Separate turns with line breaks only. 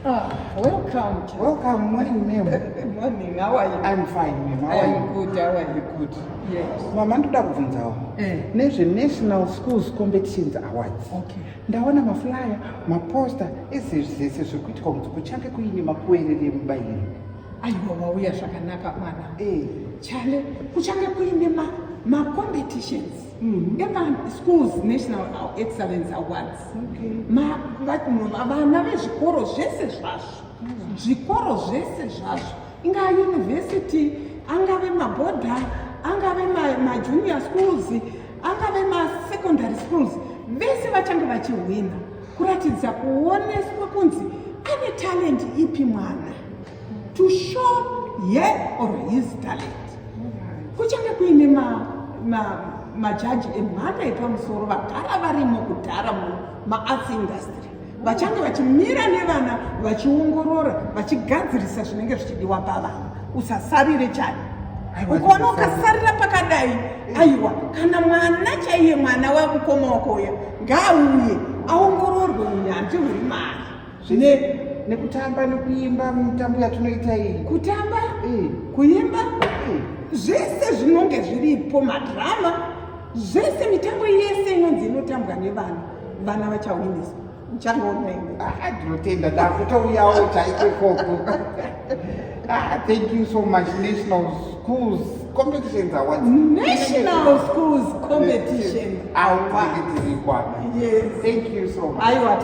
Ah, welcome. Welcome. Morning, ma'am.
Morning. How are you?
I'm fine, ma'am. How are
you? Good. How
are
you? Good.
Yes.
Mama,
ndoda kubvunzawo
eh. nezve National Schools Competitions Awards. Okay. Ndaona
maflyer,
maposter, ese zvese zvekuitwa kuti kuchange kuine makuerere mubayiro. Aiwa wauya
zvakanaka mwana. Eh. Chale
kuchange kuine
ma ma competitions. Mm-hmm. Eka schools national excellence awards vana vezvikoro zvese zvazvo mm. zvikoro zvese zvazvo ingava university angave mabhodha angave majunior ma schools angave masecondary schools vese vachange vachihwina kuratidza kuoneswa kunzi ane talent ipi mwana to show her or his talent kuchange kuine ma, ma, majaji emhando yepamusoro vagara varimo kudhara mumaarts industry vachange vachimira nevana vachiongorora vachigadzirisa zvinenge zvichidiwa pavana usasarire chani ukaona ukasarira pakadai aiwa kana mwana chaiye mwana wamukoma wako uya ngaauye aongororwe unyanzvi huri mari zvine nekutamba
nekuimba mutambo yatinoita iyi kutamba eh.
kuimba eh. zvese zvinonge zviripo madrama zvese mitambo yese inonzi inotambwa nevana vana vachawinisa uchangoonaiwe ah, ndinotenda
ndakutouyawo chaikokoko Ah, thank you so much. National Schools Competitions Awards. National
Schools Competition.
Awards.
Yes. Thank
you so
much. I
was